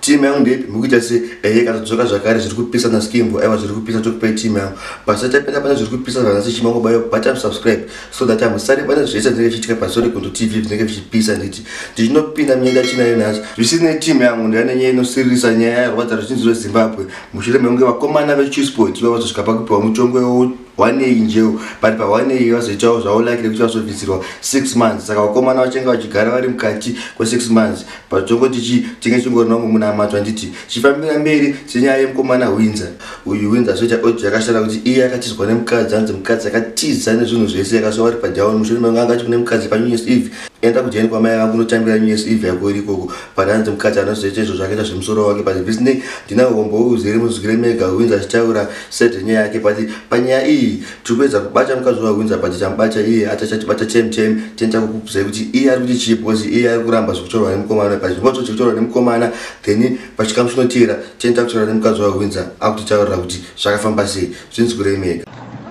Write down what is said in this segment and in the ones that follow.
team yangu ndeipi mukuita se ehe eh, katodzoka zvakare zviri kupisa na skimbo aiwa zviri kupisa tokupai team yangu basa tapinda pane zviri kupisa zvanasi chimango bayo but am subscribe so that am sare pane zvese zvinenge zvichiitika pasori kundu tv zvinenge zvichipisa nditi ndichinopinda mnyenda chinayo nhasi zvisinei team yangu ndiyane nyaya inosiririsa nyaya yarwadza ruzhinji rwezimbabwe mushure mekunge vakomana vechisport vavazosvika pakupiwa mutongo wanei njeu but pawanei vazoitawo zvavo like rekuti vazobvisirwa six months saka vakomana vachenge vachigara vari mukati kwesix months but tongoti chi tinge chingorina umwe munhu amatwa nditi chifambira mberi senyaya yemukomana hwinza uyu hwinza azoita audio yakashata kuti iye akatizwa nemukadzi anzi mukadzi akatiza nezvinhu zvese yakasoa vari padown mushure mange angati kune mukadzi panew years eve enda kujani kwamai vangu unotambira new years eve yako iri ikoko but anzi mukadzi anozoita izvo zvakaita zvemusoro wake but visney ndina hombo uzere muzwire mega hwinza achitaura set nyaya yake but panyaya iyi tiri kuedza kubata mukadzi wahwinza but tamubata iye atachatibata chem chem tinoita kukubvuzai kuti iye ari kuti chii because iye ari kuramba zvekutorwa nemukomana but ndipo toti kutorwa nemukomana then pachikamu chinoteera tinoita kutaura nemukadzi wahwinza akutitaurira kuti zvakafamba sei zvinzi kurei mega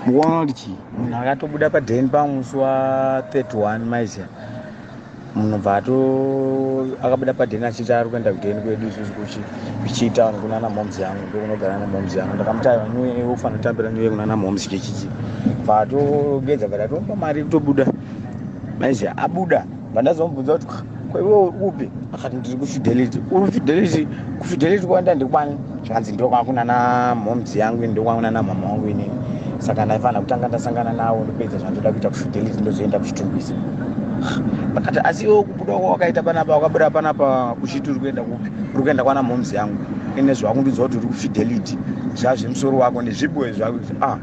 mukuona kuti chii munhu akatobuda paden pamusi wa 31 maiziva munobva ato akabuda padheni achiti ari kuenda kudheni kwedu isusu kuchi kuchitown kunana moms yangu ndokunogara na moms yangu ndakamuti aiwa nyuye iwe ufana kutambira nyuye kunana moms chechichi bva atogeza bva tatomupa mari kutobuda maizi abuda bva ndazomubvunza kuti "Ko iwe uri kupi akati ndiri kufidelity uri fidelity kufidelity kwaenda ndikwani zvikanzi ndokwakuna namhoms yangu ini ndokwakuna namama wangu inini saka ndaifanira kutanga ndasangana nawo ndopedza zvandoda kuita kufidelity ndozoenda kuchitumbisa akati asi iwe kubuda kwa wakaita panapa wakabuda panapa kuchiti uri kuenda kupi uri kuenda kwana moms yangu ine zvakundiudza kuti uri kufidelity zvazvemusoro wako nezviboe zvako ah,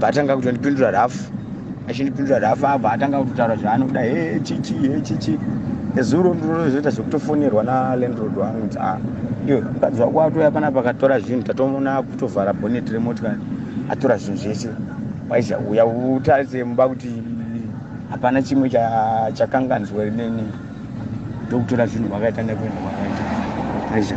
vatanga kutondipindura rafu achindipindura rafa abva atanga kutotara zvaanoda he chichi he chichi ezuro ndinozoita zvekutofonerwa nalandrod wangu kuti a iyo mukadzi wako atouya pana pakatora zvinhu tatomona akutovhara bonet remotikari atora zvinhu zvese waiza uya utarise mumba kuti hapana chimwe chakanganzwa rineni ndokutora zvinhu kwakaita nekuenda kwakaita aiza